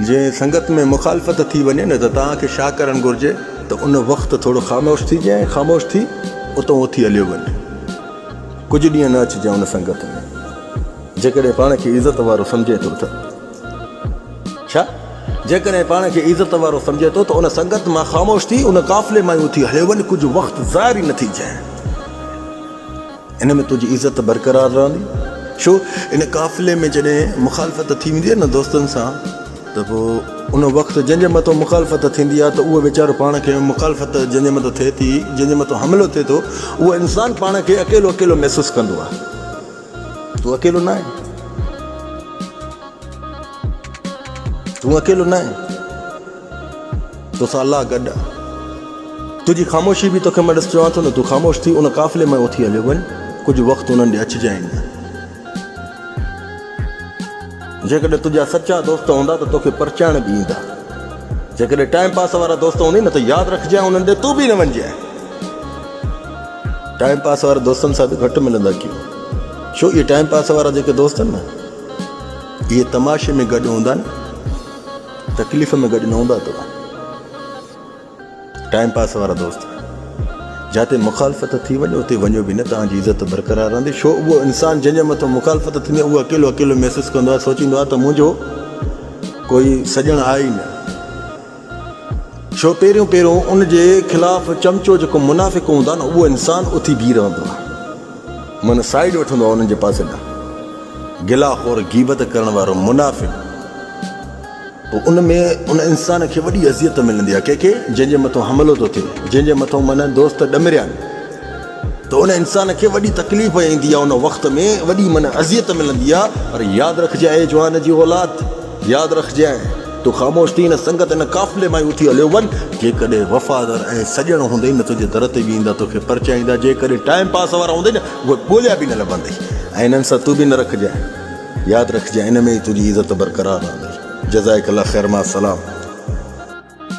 جي سنگت ۾ مخالفت ٿي وڃي نه ته توهان کي ڇا ڪرڻ گهرجي ته ان وقت ٿورو خاموش ٿي جي ۽ خاموش ٿي اتئون اٿي هليو وڃ. ڪجهه ڏينهن نه اچجي ان سنگت ۾. جيڪڏهن پاڻ کي عزت وارو سمجهي ٿو ته. ڇا؟ جيڪڏهن پاڻ کي عزت وارو سمجهي ٿو ته ان سنگت مان خاموش ٿي ان قافلي مان ئي اٿي هليو وڃ ڪجهه وقت ظاهر ئي نه ٿي جي. ان ۾ تنهنجي عزت برقرار رهندي ڇو ان قافلي ۾ جڏهن مخالفت ٿي ويندي آهي نه دوستن سان ته پوء ان وقت جنهن جي مٿو مخالفت ٿيندي آهي ته اهو ويچارو پاڻ کي مخالفت جنهن جي مٿو ٿئي ٿي جنهن جي مٿو حملو ٿئي ٿو اهو انسان پاڻ کي اڪيلو اڪيلو محسوس ڪندو آهي تون اڪيلو نه آهين تون اڪيلو نه آهين. توسان الله گڏ آ. تنهنجي خاموشي به توکي مان ڏس چوان ٿو نه تون خاموش ٿي ان قافلي مان اٿي هليو وڃ ڪجهه وقت انهن ڏي اچجانء نه. جيڪڏهن تنهنجا سچا دوست هوندا ته توکي پرچائڻ به ايندا. جيڪڏهن ٽائيم پاس وارا دوست هوندي نه ته ياد رکجانء انهن ڏي تون به نه وڃجانء. ٽائيم پاس وارا دوستن سان به گهٽ ملندا ڪيو ڇو اهي ٽائيم پاس وارا جيڪي دوست آهن نه اهي تماشي ۾ گڏ هوندا آهن. تڪليف ۾ گڏ نه هوندا توهان ٽائيم پاس وارا دوست جاتي مخالفت ٿي وڃي اتي وڃو به نه توهان جي عزت برقرار رهندي شو اهو انسان جنهن جي مٿو مخالفت ٿيندي اهو اڪيلو اڪيلو محسوس ڪندو آهي سوچيندو آهي ته منهنجو ڪوئي سڄڻ آهي ئي نه شو پهريون پهريون ان جي خلاف چمچو جيڪو منافق هوندا نه اهو انسان اٿي بيهي رهندو آهي من سائيڊ وٺندو آهي انهن جي پاسي ڏانهن. گلا خور، غيبت ڪرڻ وارو، منافق. پوء ان ۾ ان انسان کي وڏي اذيت ملندي آهي ڪنهن کي جنهن جي مٿو حملو ٿو ٿئي، جنهن جي مٿو من دوست ڏمريا آهن ته ان انسان کي وڏي تڪليف ايندي آهي ان وقت ۾ وڏي من اذيت ملندي آهي پر ياد رکجي اي جوان جي اولاد! ياد رکجانء، تون خاموش ٿي هن سنگت، هن قافلي مان ئي اٿي هليو وڃ. جيڪڏهن وفادار ۽ سڄڻ هوندئي نه تنهنجي در تي به ايندا، توکي پرچائيندا. جيڪڏهن ٽائيم پاس وارا هوندئي نه، اهي ڳوليا به نه لڀندئي ۽ انهن سان تون به نه رکجانء. ياد رکجانء، ان ۾ ئي تنهنجي عزت برقرار رهندي. جزائک الله خير مع السلام.